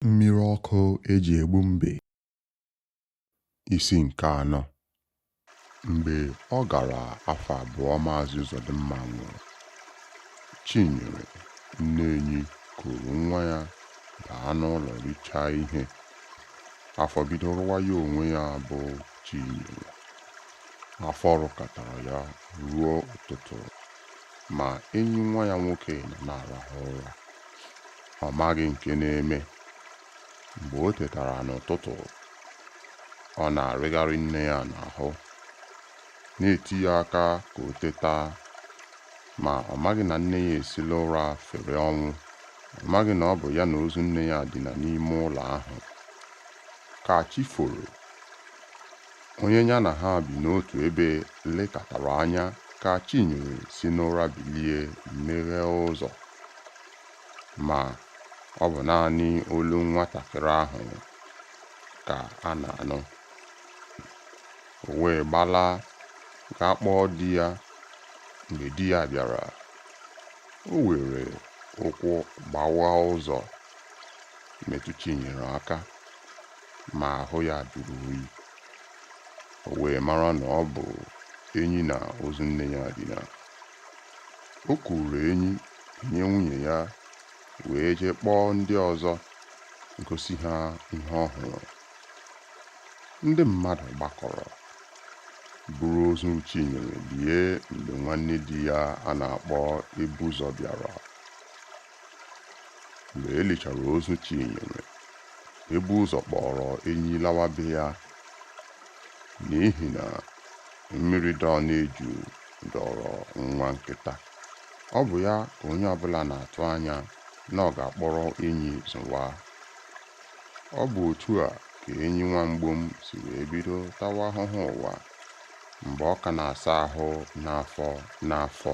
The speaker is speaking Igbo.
Mmiri ọkụ eji egbu mbe. Isi nke anọ. Mgbe ọ gara afọ abụọ Maazị Ụzọdịmma nwụrụ, Chinyere nne Enyi kuru nwa ya baa n'ụlọ richaa ihe. Afọ bido rụwa ya onwe ya bụ Chinyere. Afọ rụkatara ya ruo ụtụtụ. ma Enyi nwa ya nwoke nọ na-arahụ ụra. Ọ maghị nke na-eme. Mgbe o tetara n'ụtụtụ, ọ na-arịgharị nne ya n'ahụ, na-eti ya aka ka o teta. Ma ọ maghị na nne ya esila ụra fere ọnwụ. Ọ maghị na ọ bụ ya na ozu nne ya dina n'ime ụlọ ahụ. Ka chi foro, onye ya na ha bi n'otu ebe lekatara anya ka Chinyere si n'ụra bilie meghee ụzọ. Ma, ọ bụ naanị olu nwatakịrị ahụ ka a na-anụ. O wee gbalaa gaa kpọọ di ya. Mgbe di ya bịara, o weere ụkwụ gbawa ụzọ metụ Chinyere aka. ma ahụ ya jụrụ oyi. O wee mara na ọ bụ Enyi na ozu nne ya dina. O kuuru Enyi nye nwunye ya wee jee kpọọ ndị ọzọ gosi ha ihe ọ hụrụ. Ndị mmadụ gbakọrọ buru ozu Chinyere lie mgbe nwanne di ya a na-akpọ Ebuzọ bịara. mgbe e lichara ozu Chinyere Ebuzọ kpọọrọ Enyi lawa be ya n'ihi na mmiri dọ n'eju dọọrọ nwa nkịta ọ bụ ya ka onye ọbụla na-atụ anya na ọ ga-akpọrọ Enyi zụwa ọ bụ otu a ka Enyi nwa mgbom si wee bido tawa ahụhụ ụwa mgbe ọ ka na-asa ahụ n'afọ n'afọ